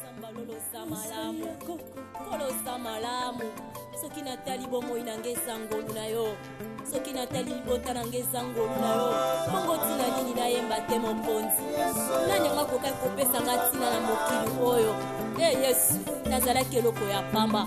zambaloza malamu koloza malamu soki natali bomoi na ngai ezangolu na yo soki natali libota na ngai ezangolu na yo bongo ntina nini nayemba te mokonzi nani yango akokaki kopesa ngai ntina na mokili oyo e yesu nazalaki eloko ya pamba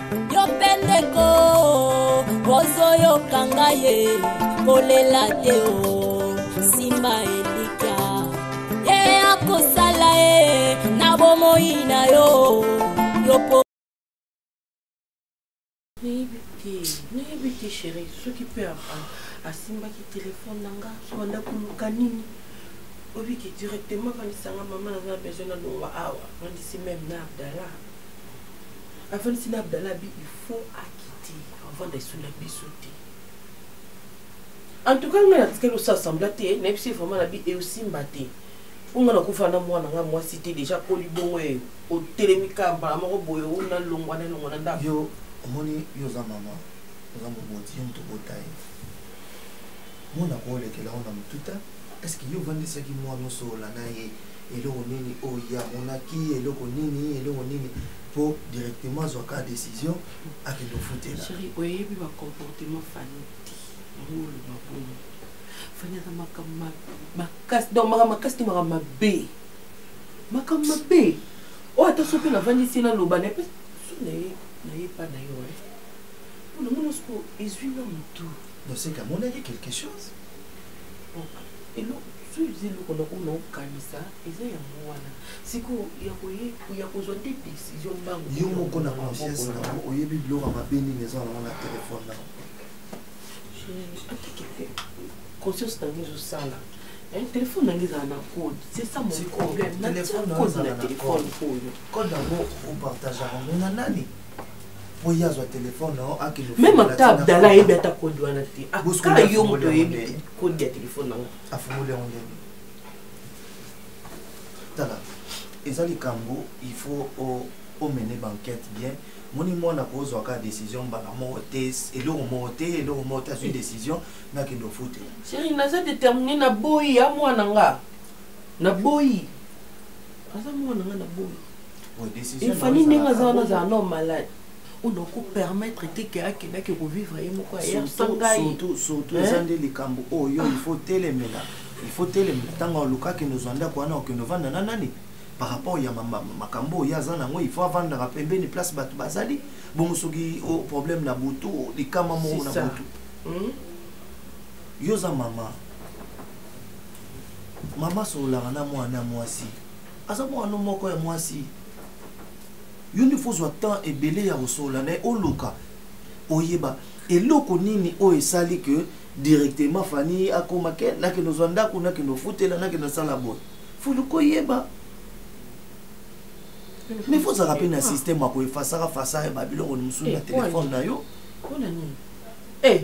yo mpe ndeko ozoyoka ngai ye kolela te o simba elikya ye akosala ye na bomoi na yo yopo nayebi te nayebi te chéri soki mpe asimbaki telefone na nga sobanda koluka nini obiki directement vandisanga mama naza na besoin na longwa awa vandisi meme na abdallah avandisi na abdala bi il faut akite avanda esu na biso te en tout cas ngai natikeli osa assembla te nayebisi ye vraiment na bi eosimba te mpo ngai nakufa na mwana ngai mwasi te deja koli bongo ye otelemi kaka mbala moko boye o nalongwa nalongwa na ndako yo omoni yo oza mama oza moboti yo moto obota ye mwana koolekela yo na motuta estce yo ovandisaki mwana osola na ye eloko nini oyo ye amonaki eloko nini eloko nini mpo directement azwaka décision akende ofutela chéri oyebi bacomportement fani te yango oloba bongo fani aza makambo makasi donc makambo makasi te makambo mabe makambo mabe oyo ata soki navandisi ye naloba na mpe so na ye na ye epa na yo e mpo na mona soko ezwi na motu noseka amonaki quelque chose eloko soki eloko na oyo naokanisa eza yango wana sikoyo ya kozwa nde décision mbango yo moko na conscience nango oyebi biloko mabe nini eza nango na telefone nango conscience nango ezosala eh, telefone nange ezala na code c'est ça mon problème na code na telefone oyo code yango opartageaka ngo na nani meme ata abdala ayebi ata kode wana te aka yo moto oyebi kode ya telefone nango afungoli yango ndenge tala eza likambo il faut omene banquete bien moni mwana kozwaka décision mbala moko te eloko moko te eloko moko te azwi décision nakende ofutela seri naza détermine na boyi ya mwana nga na boyi aza mwana nga na boyi efani ndenge aza wana azala no malade oyo okopermettre te ke akendaki kovivre ye moko ayersangaisutu eza nde likambo oyo oh, ifo telemela ifo telemela ntango olukaki nozwa ndako wana okende ovanda na nani par rapport ya makambo oyo aza nango ifo avandaka pembeni place bato bazali bongo soki oh, problème na butu oh, likama moko na butu hmm? yo oza mama mama sololaka na mwana ya mwasi aza mwana moko ya mwasi yo nde fozwa temps ebele ya kosolola na ye oluka oyeba eloko nini oyo esali ke directement fani akoma ke nakende ozwa ndako nakende ofutela nakende osala boye foluka oyeba mais fozalaka mpe na systeme ya koefasaka fasaka babiloko mosusu na eh, telefone na yo eh,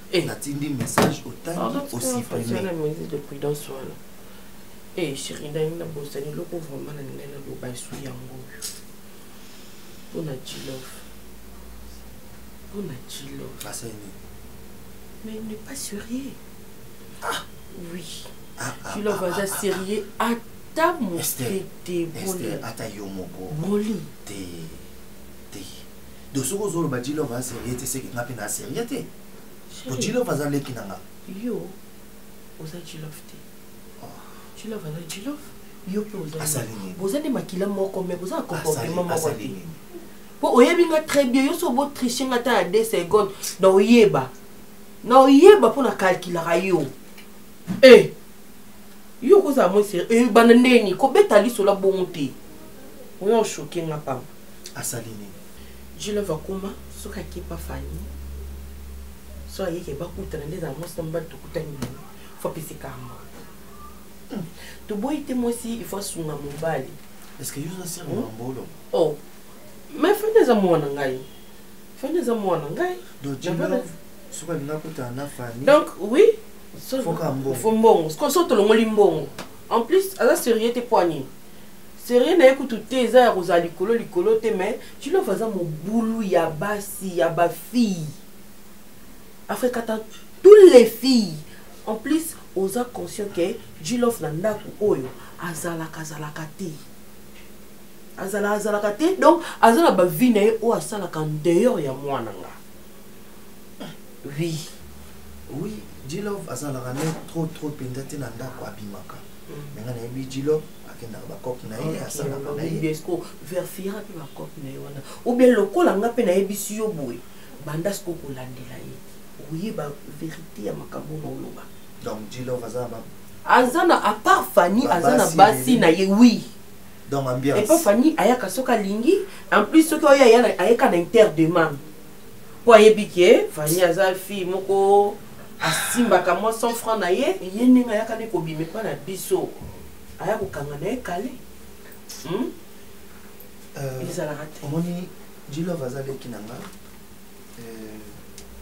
Eh, natindi message otangi osiprime e sheri ndani na bosani eloko vraimen na ndai naloba esu yango oyo mpo na jilov mpo na jilov mais il n'est pas sérieux ah. oui ah, ah, jilov ah, aza ah, ah. sérieux ata moke te ata yo moko boli te te donc soki ozoloba jilove aza serie te seke nga mpe na serie te po jilove aza leki na nga yo oza jilove te jilove aza jilove yo mpe oza nde makila moko me boza na comportement moko te mpo oyebi nga très bien yo so botriche nga ata ya 2 seconde na oyeba na oyeba mpo na kalkilaka yo e eh, yo okozala mwa serie eh, banda ndeni kobeta lisola bongo te oyo oshoke nga pamba asali nini julove akoma soki akepa fani so ayeke bakutana nde ezala mwasi na mobali tokutani boye fo apesi kamba hmm. toboyi te mwasi ifo asunga mobali hmm? oh. me fani eza mwana ngai fani eza mwana ngai donc oui fo mbongo so tolongoli mbongo en plus aza serieux te mpo anini serie na ye kutu te eza ya kozala likolo likolo te mais jilove aza mobulu ya basi ya bafille afrekata tous les filles en plus oza conscient ke jilove na ndako oyo azalaka azalaka te azala azalaka te donc aza na bavi na ye oyo asalaka dehors ya mwana nga oui oui jilove azalaka ne trop trop mpenza te na ndako abimaka mm. me nga nayebi jilove akendaka bacope na ye asalaka na ye verfira mpe bacope na ye wana oubien lokola nga mpe nayebisi yo boye banda siko kolandela ye oyeba verité ya makambo na oloba donc dilove aza na aza na apart fani aza na basi na ye wi donc ambiance epa fani ayaka soki alingi en plus soki oyo ayeka na interdemande po ayebi ke vani aza fille moko asimbaka mwa 100 franc na ye ye ndenge ayaka nde kobima epa na biso aya kokanga na ye kale hmm? euh, ezalaka te omoni jilove aza leki na nga euh,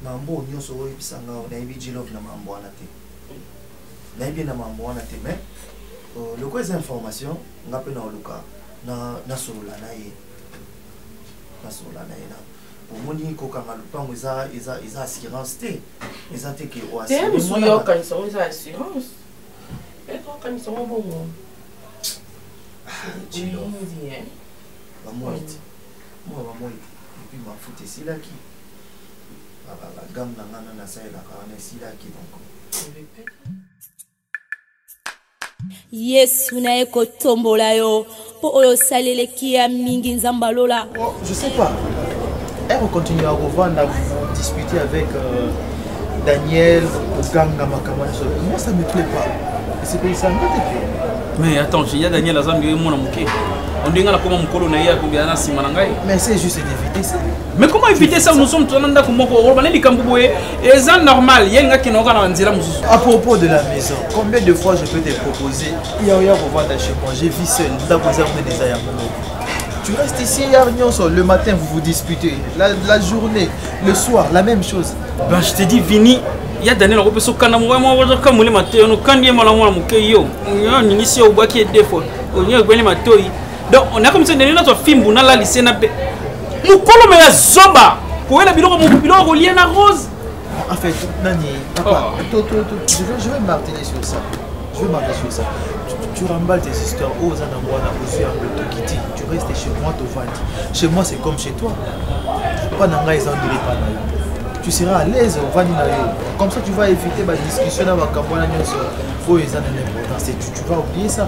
mambo nyonso oyebisa nga nayebi jilove na mambo wana te nayebi na mambo wana te mais euh, lokola eza information nga mpe naoluka nasolola na ye nasolola na ye na omoni kokanga lopango eza eza eza assurance te eza te ke oassurance oyo eza assurance ekokanisa ngo bongo bamoi te mwa bamoi te epuis mafuta esilaki bagame na ngai na nasalelaka wana esilaki donc yesu na ye kotombola yo mpo oyo osali eleki ya mingi nzambe alola oh, je sais pas eko eh, continue akovanda discuter avec euh, daniel koganga makambo nyonso moi ça me plaît pas esepelisa nga te pe mais attends ya daniel azambi ye mwana moke ondenge nakoma mokolo na ye akobela na nsima na ngai mais c'est juste d'éviter ça mais comment éviter ça nous sommes tous dans ndako moko oloba na likambo boye eza normal ye linga kinoka na nzela mosusu à propos de la maison combien de fois je peux te proposer ya oya kovanda chez moi j'ai vu seul ndako eza mpe eza yango tu restes ici hier nyonso le matin vous vous disputez la, la journée le soir la même chose ben je te dis vini ya daniel akopesa okanda moko moko ozoka molema te ono kandi ye mala mwana moke yo oningisi yo obwaki ye defo olingi ekobeli matoi donc on a comme ça ndenge nazwa fimbu nalalise na mpe mokolo me ya zoba koyela biloko biloko kolie na rose en fait nani papa oh. to, to, to, je, vais, je vais marteler sur ça je vais marteler sur ça tu remballes tes histoires oh, oza nango wana ozwi yango tokiti tu restes chez moi tovandi chez moi c'est comme chez toi mpa na ngai eza ondele mpa na yo tu seras à l'aise ovandi na yo comme ça tu vas éviter badiscussion na makambo wana nyonso oyo eza na l'importance tu, tu vas oublier ça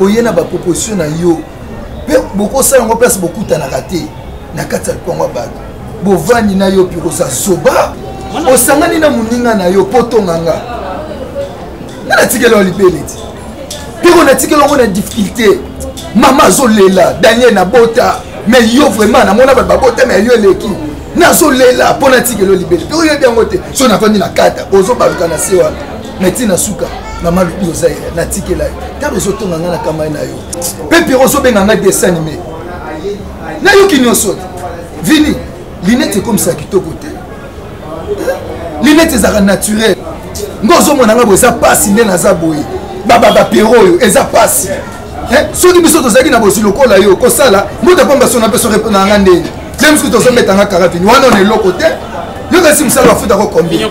oye na baproposition na yo mpe bokosala yango place bokutanaka te na kati ya lipango ya bato bovandi na yo piroza zoba osangani na moninga na yo mpo tonga nga nga natikela yo libele ti piko natikela yango na difficulté mama azolela daniel nabota me yo vraiment namona bato babota me yo eleki nazolela mpo natikela yo libele piko oyebi yango te so nafandi na kata ozobaluka na se wana mais ti na suka na malobi oza ye natikela yo ntango ezotonga ngai na kamai na yo mpe pero ozobenga ngai desanime nayoki nyonso te vini linete ekomisaka kitoko te linete ezalaka naturel ngo ozomona ngai bo eza mpasi nde naza boye babapero oyo eza mpasi eh, soki biso tozalaki na bozwi lokola yo kosala mbuta mpamba sona mpe soki na ngai ndenge nde mosuku tozobetanga karavini wana ona eloko te yo kasi mosala bafuta ko combien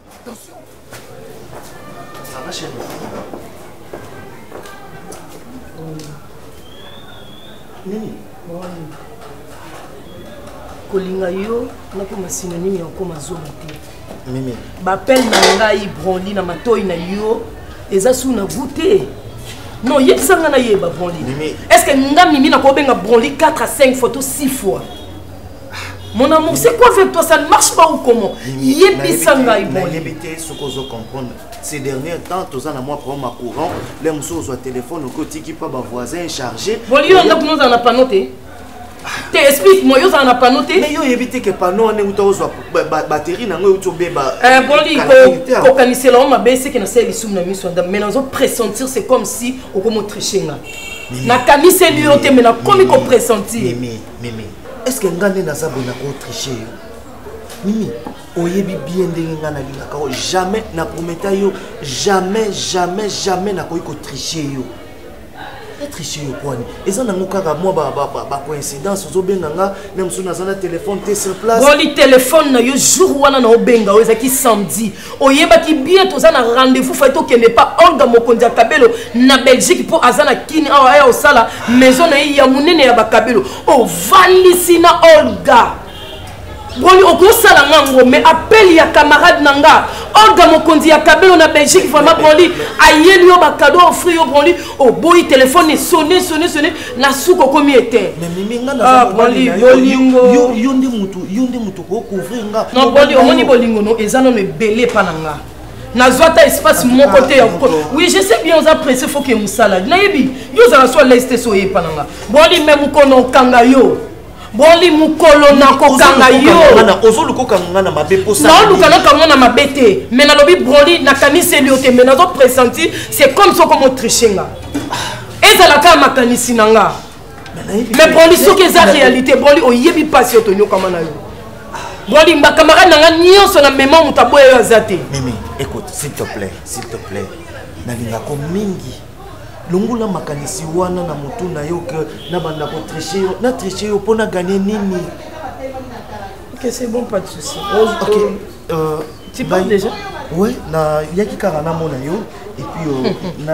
Attention. Ça va chez moi. Nini? kolinga yo nakoma synonyme ya okoma zoba te mimi bapele na ngai branli na matoi na yo eza su na goût te non yebisa ngai nayeba branli est ce que nga mimi nakobenga branli 4 à 5 fois to 6 fois Mon amour, c'est quoi avec toi Ça ne marche pas ou comment Yebisa ngai bon. Yebite ce qu'on veut comprendre. Ces derniers temps, tous en moi prend ma courant, les moussous au téléphone au côté qui pas ma voisin chargé. Bon, lui on a nous en a pas noté. te explique moi yo ozala na pano te mais yo oyebi te ke pano wana euta ozwa batterie nango euti obeba boni kokanisela yango mabe seke nasala lisumu na miso ya ndambo mais nazo pressentir c'est comme si okomi otriche nga nakaniseli yo te me nakomi kopressentir mimi est ce que nga nde naza boye nakotriche yo mimi oyebi bien ndenge ngai nalingaka yo jamais naprometa yo jamais jamais jamais nakoki kotriche yo etriche yo kwani eza nango kaka mwa bacoïncidence ozobenga nga na mosusu naza na telefone te sur place boli telefone na yo jour wana na obenga oyo ezalaki samedi oyebaki bien toza na rendez-vous fai tokende pa olga mokonzi ya kabelo na belgique mpo aza na kini awa aya osala maison na ye ya monene ya bakabelo ovandisi na olga boni okosala nga ngo mais appel ya camarade na nga olga mokonzi ya kabelo na belgique vraiment broli ayeli yo bakado ofri yo broli oboyi telefone esone sone sone na suka okomi ete ah, broli yolingo yo nde motu okouvrir nga non boni omoni bolingo no eza nono ebele epa na nga nazwa ata espace moko te ya oui je sais bien oza presse faut ke mosala nayebi yo ozala so alaise te so oyepa na nga boli me mokolo okanga yo boli mokolo nakokanga yooluka naka mwana mabe te me nalobi broli nakaniseli yo te me nazo presenti c'est comme soko motriche nga ezala kaka makanisi na nga mais broli soki eza réalité broli oyebi mpasi oyo tonyokama na yo broli bacamarade na ngai nyonso na mema moto aboya yo aza te mimi écoute s'il te plaît s'il te plaît nalingako mingi longola makanisi wana na motu na yo ke nabanda kotriche yo natriche yo mpo naganye nini ok c'est bon pas de souci ok euh, tu parles déjà oui nayaki kaka namona yo epuis euh, hmm. na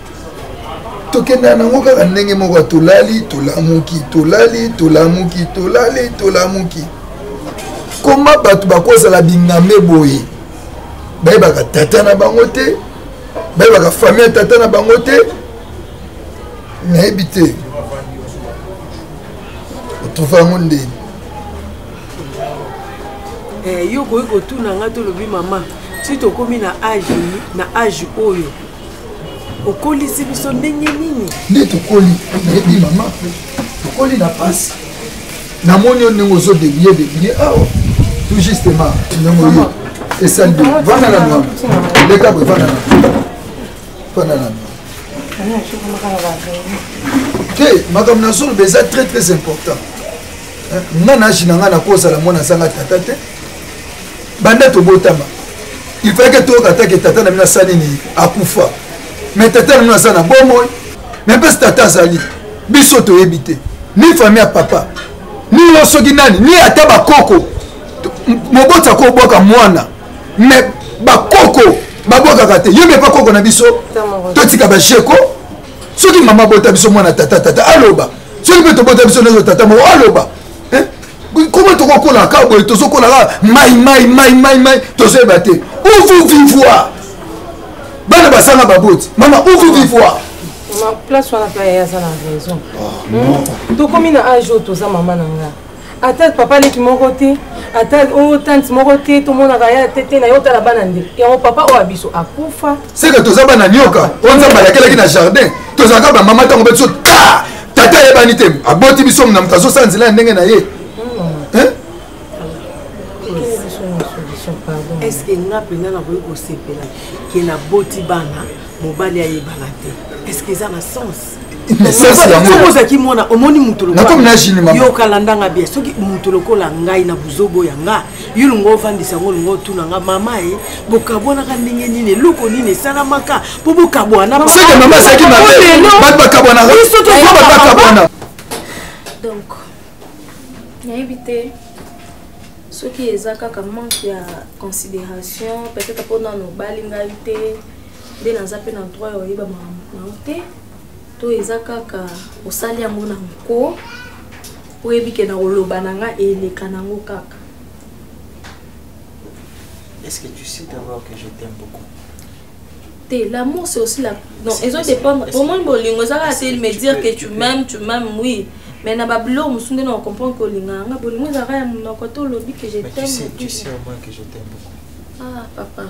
tokenda nango kaka ndenge moko tolali tolamuki tolali tolamuki tolali tolamuki koma bato bakozala bingambe boye bayebaka tata na bango te bayebaka famille ya tata na bango te nayebi te otrouve yango ndeni eh, yo okoki kotuna ngai tolobi mama ti tokomi na age na age oyo okolisi biso ndenge nini nde tokoli nayebi mama tokoli na pasi namoni yo ndenge ozo debile debile awa ah, tout justement ndenge oyo esali vanda na nwa leka boye vanda na vanda na nwa te makambo nazoloba eza très très important nga na age na ngai nakozala mwana azanga tata te banda tobotama il fallait que toyoka atake tata na bino asali nini akufa mais tata na bino aza na bomoi mais mpe tata azali biso toyebi te ni famille ya papa ni yo soki nani ni ata bakoko moboti ako obwaka mwana mais bakoko babwakaka te yo mepa koko na biso totika basheko soki mama abota biso mwana tata tata aloba soki mpe tobota biso nyonso tata moko aloba koma tokokola kaka boye tozokola kaka mai mai mai mai mai tozoyeba te uvu vivoir bana bazanga baboti mama uvu vivoir place wana mpe aye aza na raison ah, tokomi na age oyo toza mama na nga ata papa leki moko te ata o oh, tante moko te tomonaka ya tete na ye otala bana nde yango papa oyo ya biso akufa seke toza bana nioka oyo nzambe alakelaki na jardin tozalaka bamama ntango beti so ta tata ayebani te aboti biso na moto azosala nzela ya ndenge na ye eske nga mpenza nakoki kosepela ke naboti bana mobali ayebana te eske eza na sens soki ozalaki mwana omoni moto lokolayookala ndanga bia soki moto lokola ngai na buzobo ya nga yo lingo ofandisa yango lingo otuna nga mama ye bokabwanaka ndenge nini eloko nini esalamaka mpo bokabwana donc nayebi te soki eza kaka manque ya considération peut-être mpo nano obali ngai te nde naza mpe na droit ya oyeba makambo na yo te to eza kaka osali yango na nko oyebi ke na koloba na nga eleka nango kaka Est-ce que tu sais d'abord que je t'aime beaucoup te l'amour c'est aussi la non ezo dépendre omoni bolingo eza kaka te me dire que tu m'aimes tu m'aimes oui mais na babilo mosusu nde na ocomprendre que olinga yanga bolingo ezalaka ya monoko to olobi que je t'aime ah papa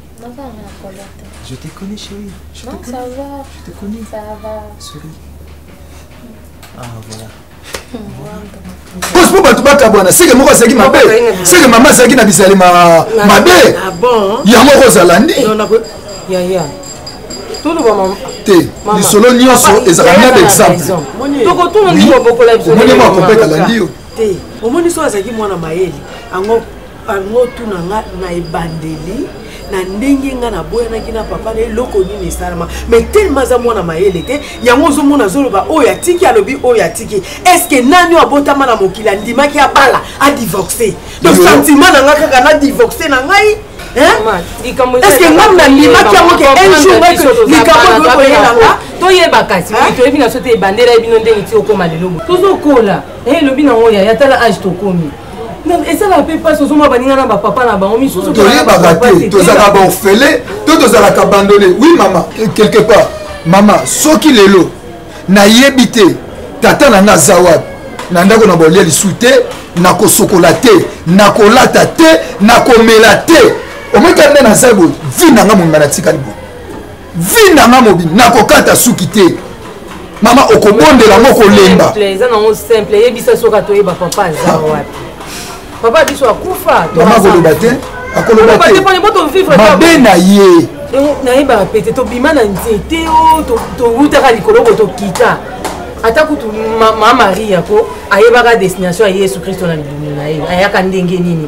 Je te connais, chérie. Je non, te connais. ça va. Je te connais. Ça va. Souris. Ah, voilà. ospo bato bakabwana seke moko azalaki mabe seke mama azalaki na bizali mabe yango oko ozala nde te lisolo nyonso ezalaka mia d'exemple omoni mwa kopeta landi yo omoni so azalaki mwana mayele yango bango otuna nga na ebandeli na ndenge nga naboyanaki na papa na eloko nini esalama mai telema aza mwana mayele te yango ozomona azoloba oyo atiki alobi oyo atiki estce nani oyo abotama na mokili andimaki abala adivorce donc sentiment na nga kaka na divorce na ngai estce ngai nandimaki yango ke un jour likambo ekoyela nga toyeba kasi toyebi na so te ebandela ye bino ndenge ti okoma lelo tozokola elobi eh, nango yaya tala age tokomi esalaka mpe mpasi ozomona baninga na bapapa na bango misusu toyebaka te tozalaka baorfele to tozalaka bandone wi mama quelque part mama soki lelo nayebi te tata na nga aza wapi na ndako na bolia lisu te nakosokola te nakolata te nakomela te omoi kaka nde naza boye vi na nga monga natikali boye vie na nga mobi nakokata suki te mama okobondela ngo kolemba eza nango simple eyebisa soki atoyeba papa aza ah. wapi papa biso akufa mama koloba te akoloba te mabe na ye nayebaka pete tobima na nzete o oh, towutaka likolo ko tokita ata kutu ma maria ko ayebaka destination ya yesu kristo na libumu na ye ayaka ndenge nini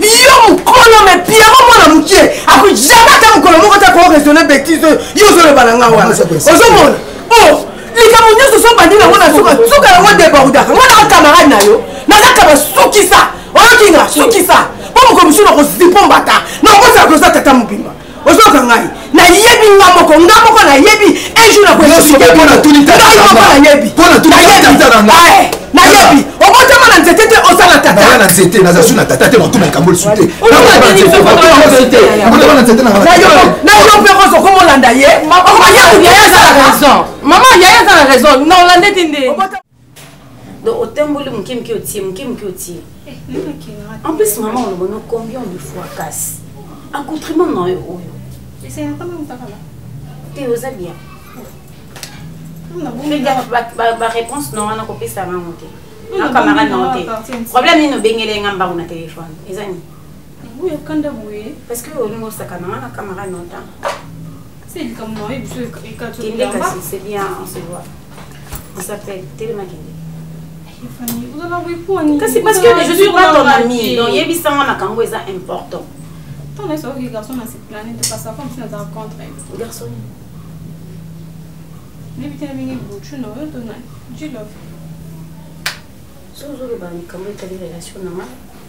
yo mokolo me piamo mwana mokie akoki jamai ata mokolo moko ta koo raisonne betise oyo yo ozoloba na ngai wana ozomona o likambo nyonso ozobandi nango na suka suka yango debordaka ngai naka camarade na yo nazaka basukisa oyoki nga sukisa mpo mokolo mosusu nakozipo mbata nakozala koza tata mobimba ozoka ngai nayebi nga moko nga moko nayebi un jour nakonayebi obotama na nzete te oza na tata na nzete naza su na tata te makoma likambo lisu te nayo mpe rosa okomolanda ye mama yaya aza na raison non olande te nde donc otamboli moke moke otie moke moke otie eh, en plus mama oloba no combien de fois kasi accoutrement na yo oyo te oza bien baréponse na wana kopesa bango te na camarade na yo te problème nini obengeli nga mbango na telefone eza nini oyo kanda boye parce que olingi osakana nga na camarade na yo ta c'est likambo na yo biso ekatokende kasi c'est bien on se voit kasi parce que je suis pas ton ami donc yebisanga makambo eza important ntango nyonso oyoki garçon na seplane te parce afa mosusu naza contre garçon nayebi te na ndenge buchu na oyo to na jilove sozoloba likambo etali relation na ngai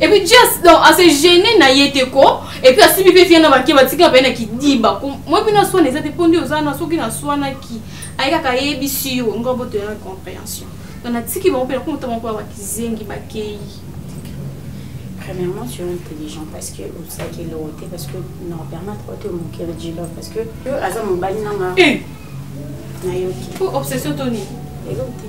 Et puis just donc à se gêner na yete ko et puis asibi pe fiana banke batika pe na kidiba ko moi bino swana eza te pondi oza na soki na swana ki ayeka ka yebi si yo ngo boto ya compréhension donc na tiki bango pe na kumutama ko ba kizengi ba keyi premièrement tu es intelligent parce que osaki eloko te parce que na permettre ote omokeli jilo parce que yo aza mobali nanga nayoki obsession toni eloko te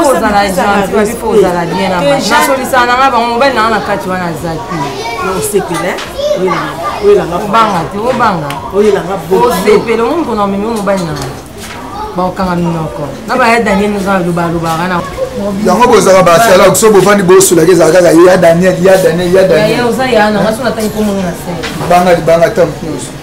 ozala gentil babi fo ozala bien nasolisaka na ngai bango mobali na ngai na kati wana aza te osepela obanga te obanga osepela omoni kona omemi mobali na ngai bakokanga minoko na baya daniel oza lobalobaka na yango bozalaka basalak so bovandi bosolaka ezala kaka ya daniel ya daniel ya daniel oza ya nanga so natangi komona na se banga libanga ntango nyonso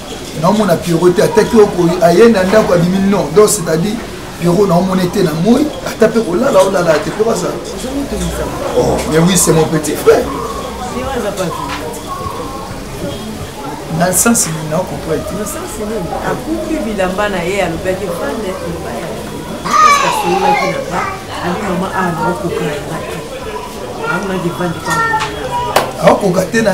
naomona piero te ataki oko aye na ndako abimi non donc c'est-à-dire piero naomona ete na moi ata mpe kolala olala te mpe bazala oh, mais oui c'est mon petit frère na nsansi nini na comprendre te nsansi nini akufi bilamba na ye alobaki fande ebaya asololaki na nga abi mama awa naokoka na nga te amonaki fande pa aokoka te na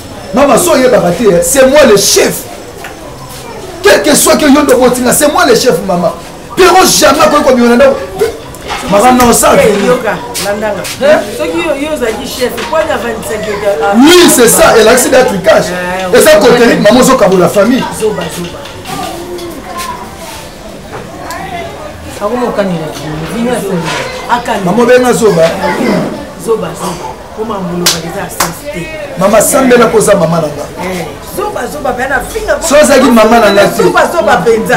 mama so oyebaka te c'est moi le chef quel que soit que yo nde obotinga c'est moi le chef mama pero jamais akoki kobima na ndako mama na osali oui c'est ça elakisi da tricage eza koteliki mama ozokabola famille mama obenga zoba mama sambela koza mama na nga eh, so azalaki mama na nga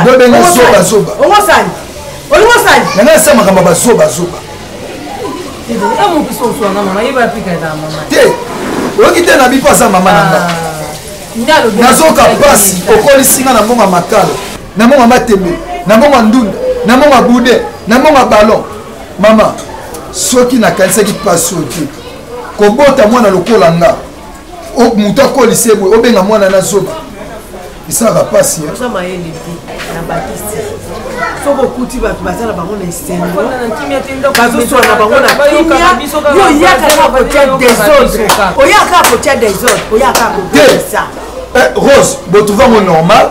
tebobenga zobazoba nanga esa makambo bazobazoba te oyoki te na bipo aza mama na nga ah, nazoka mpasi okolisi nga na mbongo ya makalo na mbongo ya matembe na mbongo ya ndunda na mbongo ya bude na mbongo ya ballon mama soki nakanisaki mpasi oyo te kobota mwana lokola nga moto akolisa ye boye obenga mwana na zoba esalaka mpasi oza mayele te na bakisi soki okuti bato baza na bango na esengobazosuana bango na kimia oyaka kaka kotya desordre oyaka kaka kotya desordre oyaka kaka kobisa eh, rose botuvango normal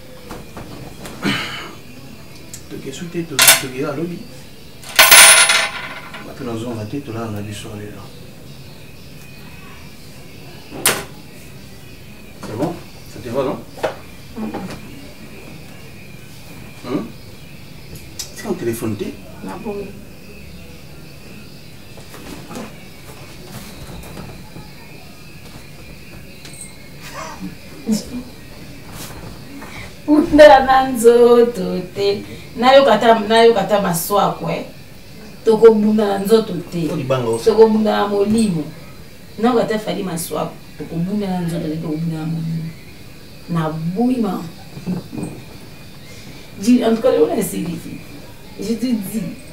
tokesu te tokela lobi bato nazonga te tolala na biso lelo c'est bon ça te va non hein? tika na telefone te nabomi Thank you. punda na nzoto te nayoka ata maswako e eh. tokobunda na nzoto te tokobunda na molimo nayoka ata fali maswako tokobunda na nzoto te tokobunda na molimo na bwima en tout cas lelo na esiliki je te dis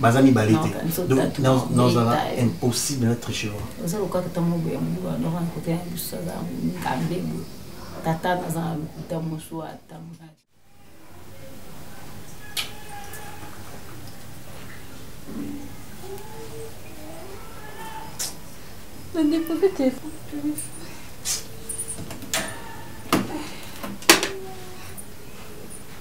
baza mibale te nazala impossible na triche tata naza na lokuta mosu ata Anne bu bir telefon görmüş.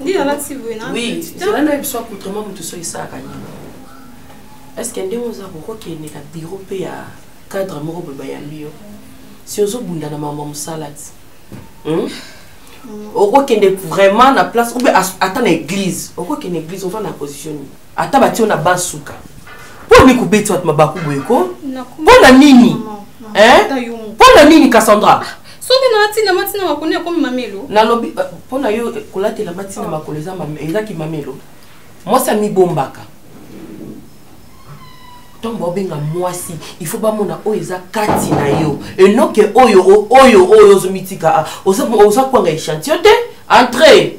nde alati boye na oui zela na biso accoutrement moto so esalaka nini est ce que ndenge oza kokokende na biro mpe ya cadre moko boye bayambi yo si ozobunda na mama mosala ti hmm? okokende vraiment na place obe ata na église okokende église ova na position nini ata batie yo na ban suka mpo nini kobeti bato mabaku boye ko mpo na nini mpo na nini cassandra soki na ntina matina makolo ekomi mamelo nalobi eh, mpo na yo eh, kolatela matina makolo ezaki mamelo mwasi amibombaka ntango baobenga mwasi il faut bamona oyo eza kati na yo enoke oyo oyo oyo ozomitika ah, oza kwanga echantillon te entre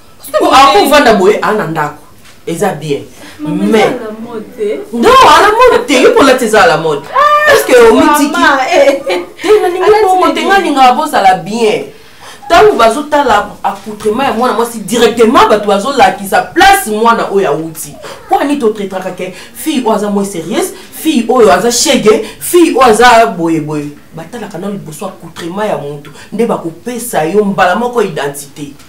po ako vanda boye a na ndako eza bien mais non ala mode te yo mpo lati eza ala mode parceke ah, omitiki eh. te nalingi bongo te nga lingaka bozala bien ntango bazotala accoutrement ya mwana mwasi directement bato bazolakisa place mwana oyo awuti mpo ani totretaka ke fille oyo aza moi sérieuse fille oyo aza shege fille oyo aza boyeboye batalaka nano liboso accoutrement ya motu nde bakopesa yo mbala moko identité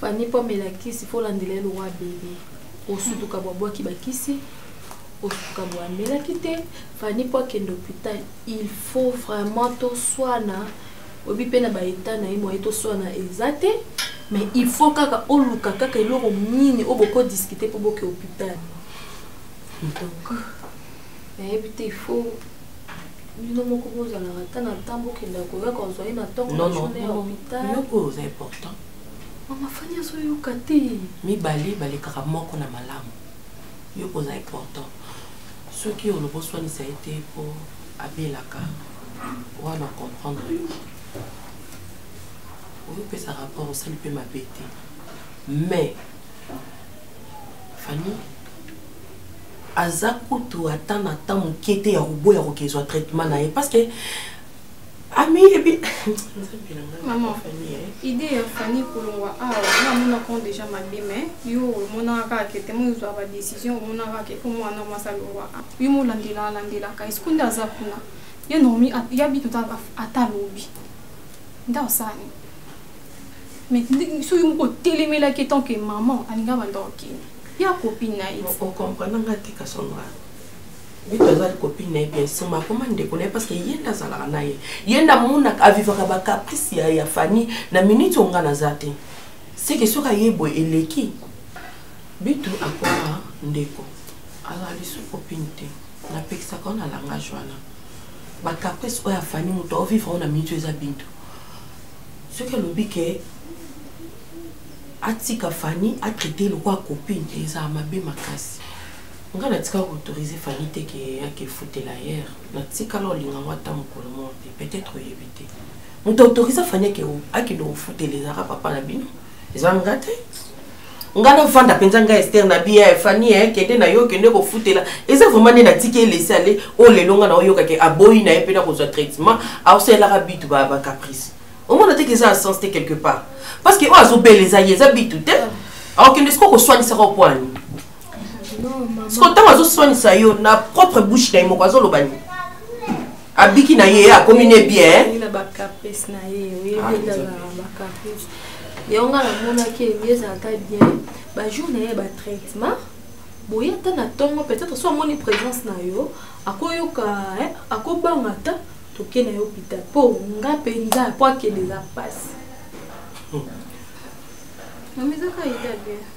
Fanny mpo amela kisi fo olandela ye lokwa bebe osutuka bwa bwaki bakisi osutuka bwa amelaki te Fanny mpo akende hôpital il faut vraiment toswana oyebi mpe na baetat na ye moye toswana eza te mais il faut kaka oluka kaka eloko nini oyo bokodiskute mpo boke hôpital donc nayebi te il faut bino moko bozalaka ata na ntan bokenda koya kozwa ye na ntongo na journée ya hôpital Mama Fanny azoyoka te. Mibale balekaka moko na malamu. Yo oza important. Soki olobi oswanisa ye te mpo abelaka wana comprendre yo. Oyopesa rapport osali mpe mabe te. Mais Fanny aza kutu ata na temps moke te ya koboya kokezwa traitement na ye parce que ami ebi nzambe na ngai maman famille eh. idée ya famille kolongwa awa ah, namonaka déjà mabe mais yo omonaka kaka ke te mozwa ba décision omonaka ke po mwana mwasi alongwa ah. yo molandela alandelaka esiko nde aza kuna ye normi ya bitu ata alobi nde osani mais so yo moko otelemelaki tant que maman alinga banda okende ya copine na ye okomprenanga te kasonga vito azali copine na ye bien soma akoma ndeko na ye parce que ye nde azalaka na ye ye nde amonaka avivaka bacaprice ya, ya fani na minute oyo nga naza te seke soki aye boye eleki bitu akoma ndeko azali su copine te napekisaka yo na langage wana bacaprice oyo afani moto aovivre oyo na minute oyo eza bintu soki alobi ke atika fani atraite lokola copine ezala mabe makasi nga natika koautorize fani te ke yake efutela hier natikala olinga ngo ata mokolo moko te peut-être oyebi te moto autoriza fani ake akende kofutela ezaka papa na bino eza nga te nga navanda mpenza nga ester na bia ya fani ya kende na yo kende kofutela eza vraimen nde natiki elesi ale oyo oh, lelo nga na oyokake aboyi na ye mpe nakozwa traitement aosalelaka bitu bacaprice omona teke eza na sens te quelque part parce que oyo azobela eza ye eza bitu te aokende sikoyo koswanisaka opwani siko ntango azoswanisa yo na propre bouche na ye moko azoloba nini abiki na ye akomi ne bien yango nga namonaki ebi ezalaka bien bajour na ye batraitement boye ata na ntongo peut-être so amoni présence na yo akoyoka akobanga ata toke na yo hôpital mpo nga mpenza mpo akende eza mpasi hmm. mamizaka eza bien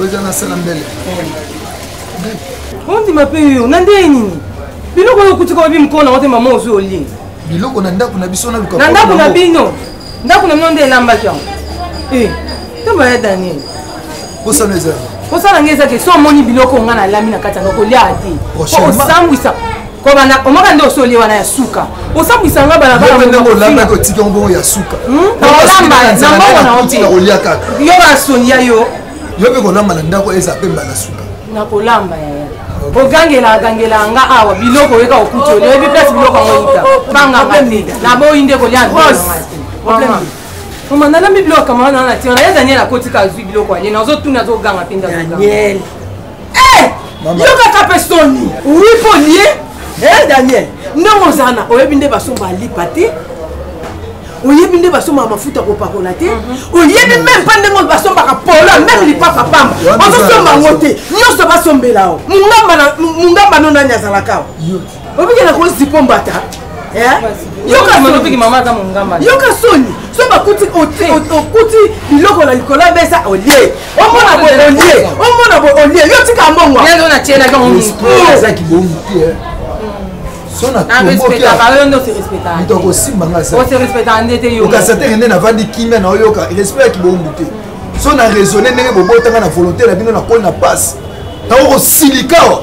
oza na sala mbele ondima mpe yo na ndenge nini biloko oyo okuti kobabi mokolo nango te mama ozwi olie biloko na ndako na biso na luka na ndako na bino ndako na bino nde elambaki yango eh, ntomba ya daniel kosala eza kosala ngai ezaki so omoni biloko ngai nalami na kati yango koliaka te osambwisa kobanda omaka nde osoli wana ya suka osambwisa nga balabalaolamba kotika mbongo ya suka olamba hmm? na mbongo na ote yo basoni ya yo yo mpe kolamba na ndako eza mpe mbala suka nakolamba ya ogangela agangela nga awa biloko oyeka okuti oli oyebi place biloko yango yita banganga naboyi nde kolia mama nalambi biloko kamana na tina na ye daniel akotika azwi biloko ane nazotuna azoganga mpe ndazoganga Eh, yokaka mpe soni wi mpo lie eh, daniel ndenge ozala na oyebi nde basomba alipa te oyebi nde basombaka mafuta kopakola te mhm. oyebi meme mpa ndenge basombaka polo meme lipapa pamba ozosomba yango te nyonso basombela o mungamba no nani azalaka o obikela kozipo mbata yoka soni so bakuti okuti biloko na likolo ya mesa olie omona bo olie omona bo olie yo tika mbongo okasa teke nde navandi kimia na oyoka respect ya kibombu te so na raisonne ndenge bobotanga na volonté na bino nakoli na pasi nakokosilikawa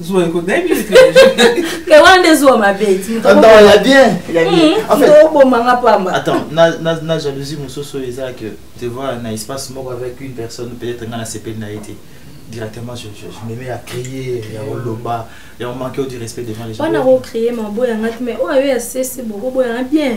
zuwa ekota nayebi ke wana nde zuwa mabe ya bien ya bienobomanga hmm, pamba attends na jalousie mosusu oyo eza que te voir na espace moko avec une personne peut-être ngai nasepeli na ye te directement je, je, je me mets à crier ya koloba ya komanke du respect devant les gens wana kocrier maboyangaki mais oyo ayo ya sesi bokoboyanga bien